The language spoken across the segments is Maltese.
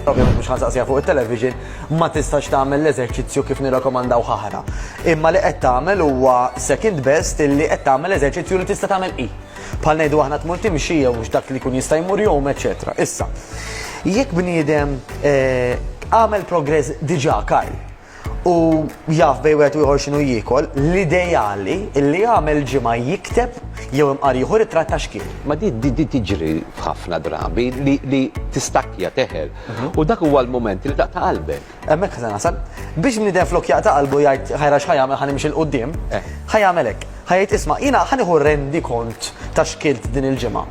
ovvjament mhux ħansaqsija fuq it-television, ma tistax tagħmel l-eżerċizzju kif nirrakomandaw ħahra. Imma li qed tagħmel huwa second best illi qed tagħmel eżerċizzju li tista' tagħmel i. Bħal ngħidu aħna tmur timxi jew dak li kun jista' jmur jom, eċetera. Issa, jekk bniedem eh, għamel progress diġà Karl, u jaf bej wieħed u ieħor x'inhu jiekol, l-ideali li jagħmel ġimgħa jikteb jew imqar jieħu ritratt ta' xkiel. Ma di di tiġri f'ħafna drabi li tistakja teħel mhm. u dak huwa l-moment li taqta' qalbek. Hemmhekk se nasal. Biex bniedem flok jaqta' qalbu jgħid ħajra x'ħajamel ħan imxi l-qudiem, eh. ħajamel hekk. Ħajt isma' jiena ħaniħu rendi kont ta' xkilt din il-ġimgħa.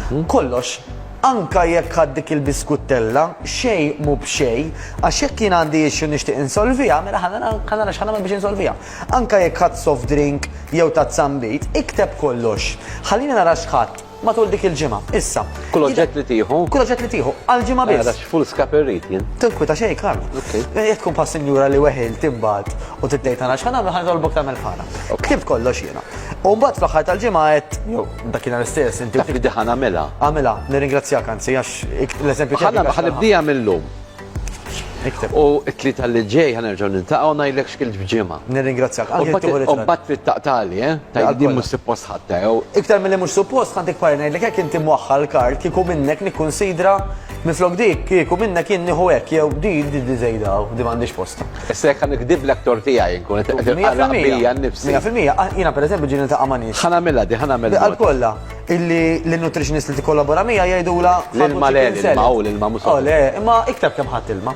Mhm. Kollox Anke jekk ħadt dik il-biskuttella, xejn mhu b'xejn, għax jekk jien għandi issue nixtieq insolviha, mela ħa nara ħa nara x'ħa nagħmel biex insolviha. Anke jekk ħadt soft drink jew tazza nbid, ikteb kollox. Ħallini nara x'ħadt matul dik il-ġimgħa. Issa. Kull oġġett li tieħu? Kull oġġett li tieħu, għal ġimgħa biss. Għax full scape irrid jien. Tinkwita xejn, Karl. Jekk tkun bħal sinjura li weħil timbagħad u titgħid nara x'ħa nagħmel ħa nitolbok tagħmel fara. Ktibt kollox jiena. U mbagħad fl-aħħar tal-ġimgħa għedt Dakinhar stess, inti. Taf li diħan għamela. Għamela, nirringrazzjak anzi, għax l-eżempju tiegħek. Ħanibdija mill-lum. Ikteb. U t-tlieta li ġej ħanerġgħu nintaqgħu ngħidlek x'kil ġimgħa. Nirringrazzjak. U mbagħad trid taqtali, eh? Tajjeb din mhux suppost ħatta jew. Iktar milli mhux suppost ħadd ikbar ngħidlek hekk inti mwaħħal kart kieku minnek nikkunsidra minflok dik kieku minnek jien nieħu hekk jew di di żejda di m'għandix post. Issa jekk ħa nikdib lektor tiegħi inkun qed inqarraq bija nnifsi. Mija fil-mija, jiena pereżempju ġieli niltaqa' ma' nies. Ħa nagħmilha di, ħa nagħmel. Għal kollha, illi l-nutritionist li tikkollabora miegħi jgħidulha. L-ilma le, l-ilma hu, l-ilma mhux. Oh le, imma ikteb kemm ħadt ilma.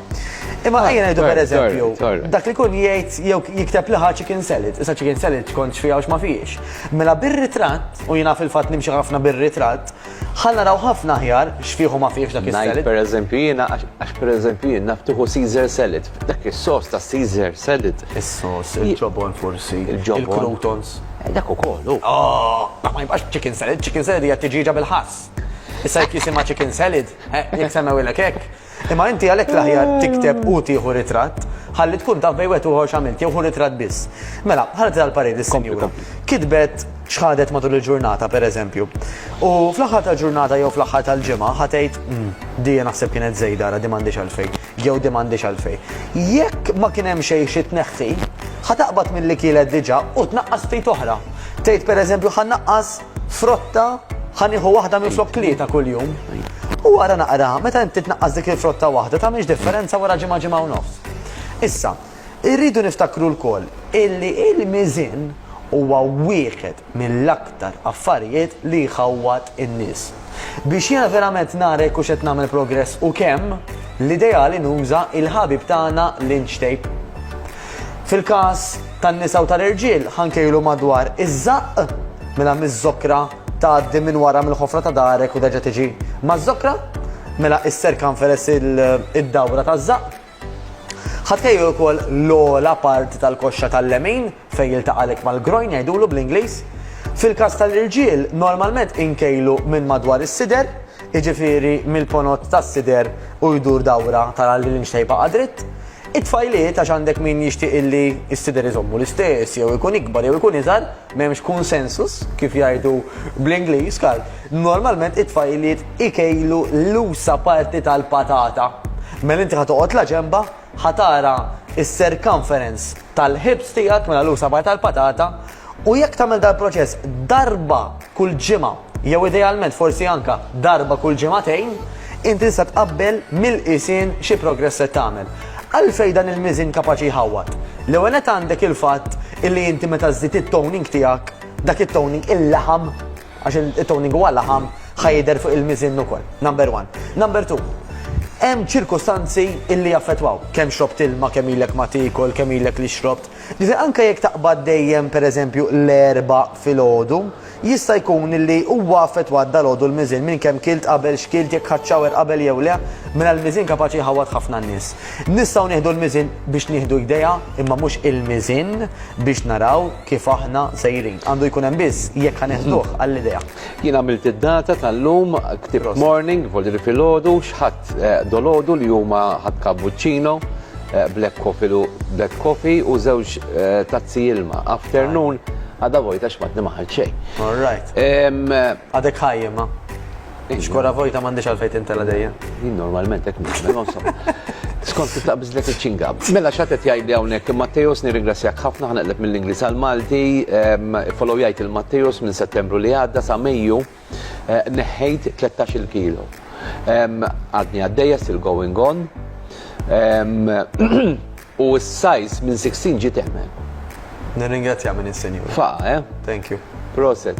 Imma ejja ngħidu pereżempju, dak li jkun jgħid jew jikteb li ħa chicken salad, issa chicken salad tkontx fiha u x'ma fihiex. Mela bir-ritratt, u jiena fil-fatt nimxi ħafna bir-ritratt, Ħa naraw ħafna aħjar x'fih u ma fihx dak is-salad. Ngħid pereżempju jiena għax pereżempju jien naf tieħu Caesar salad. Dak is-sos ta' Caesar salad. Is-sos, il-ġobon forsi, il-croutons. Eh, dak ukoll hu. Oh, ma jibqax chicken salad, chicken salad hija tiġiġa bil-ħass. Issa jekk jisimha chicken salad, eh, jekk semmew ilek hekk, Imma inti għalhekk l-aħjar tikteb u tieħu ritratt ħalli tkun taf bejn wieħed u ieħor x'għamilt jew ħu ritratt biss. Mela, ħarġet għall-parir is-sinjura. Kitbet x'ħadet matul il-ġurnata, pereżempju. U fl-aħħar tal-ġurnata jew fl-aħħar tal-ġimgħa ħa tgħid, 'Umm, di naħseb kienet żejda ara di m'għandhiex għalfejn, jew di m'għandhiex għalfejn. Jekk ma kien hemm xejn xi tneħħi, ħa taqbad milli kielet diġà u tnaqqas ftit oħra. Tgħid pereżempju ħa nnaqqas frotta ħa nieħu waħda minn flok tlieta kuljum. U wara naqra, meta inti tnaqqas dik il-frotta waħda ta' miex differenza wara ġimgħa ġimgħa u nofs. Issa, irridu niftakru lkoll illi il-miżin huwa wieħed mill-aktar affarijiet li jħawwad in-nies. Biex jiena verament nara jekk hux qed nagħmel progress u kemm, l-ideali nuża il-ħabib tagħna Lynch Tape. Fil-każ tan-nisa u tal-irġiel, ħanke ilu madwar iż-żaqq, mela miż-żokra tgħaddi minn wara mill-ħofra ta' darek u terġa' tiġi maż-żokra, mela is-circumference id-dawra taż-żaqq. Ħa tħejju ukoll l-ogħla parti tal-koxxa tal-lemin fejn jiltaqa' l-hekk mal-groin jgħidulu bl-Ingliż. Fil-każ tal-irġiel, normalment inkejlu minn madwar is-sider, jiġifieri mill-ponot tas-sider u jdur dawra tara li l-inxtejpa qa' dritt. It-tfajliet, għax għandek min jixtieq illi s-sider iżommu l-istess, jew ikun ikbar jew ikun iżgħar, m'hemmx consensus, kif jgħidu bl-Ingliż, kal. Normalment it-tfajliet ikejlu l-usa' parti tal-patata. Mela inti ħa toqgħod la ġenbha, ħa tara s-circumference tal-ħibs tiegħek, mela l-usa' parti tal-patata, U jekk tagħmel dal-proċess darba kull ġimgħa jew idealment forsi anke darba kull ġimagħtejn, inti tista' tqabbel mill-qisien xi progress qed tagħmel. Għalfejn dan il-miżin kapaċi jħawwad? L-ewwel nett għandek il-fatt illi inti meta żżid it-toning tiegħek, dak it-toning, il-laħam, għax it-toning huwa laħam, ħa jidher fuq il-miżin ukoll. Number one. Number two, hemm ċirkustanzi illi jaffettwaw. Kemm xrobt ilma, kemm ilek ma tiekol, kemm ilek li xrobt, Ġifieri anke jekk taqbad dejjem pereżempju l-Erbgħa filgħodu, jista' jkun li huwa affettwat dalgħodu l-miżien minn kemm kilt qabel, x'kilt, jekk ħadt shower qabel jew le, mela l-miżien kapaċi jħawwad ħafna n-nies. Nistgħu nieħdu l-miżien biex nieħdu idea imma mhux il-miżien biex naraw kif aħna sejrin. Għandu jkun hemm biss jekk ħa neħduh għall-idea. Jien għamilt id-data tal-lum, ktibt morning, vuol dire filgħodu, x'ħadt. Dolodu li huma ħadd cappuccino, black coffee lu black coffee u żewġ tazzi ilma. Afternoon għadha vojta x'matni ma ħadt xejn. All right. Għadek ħaj imma. Xkora vojta m'għandix għalfejn tintela dejjem. Jien normalment hekk nagħmel, ma insomma. Skont kif taqbiżlek iċ-ċingam. Mela x'għad qed jgħidli hawnhekk Matteos nirringrazzjak ħafna ħa neqleb mill-Ingliż għall-Malti. Ifollow jgħid il-Matteos minn Settembru li għadda sa Mejju. Neħħejt tlettax-il kilo. Għadni għaddejja still going on. U s-sajs minn 16 ġiet eħmel. Nirringrazzja minn is-Sinjur. Fa, eh? Thank you. Proset.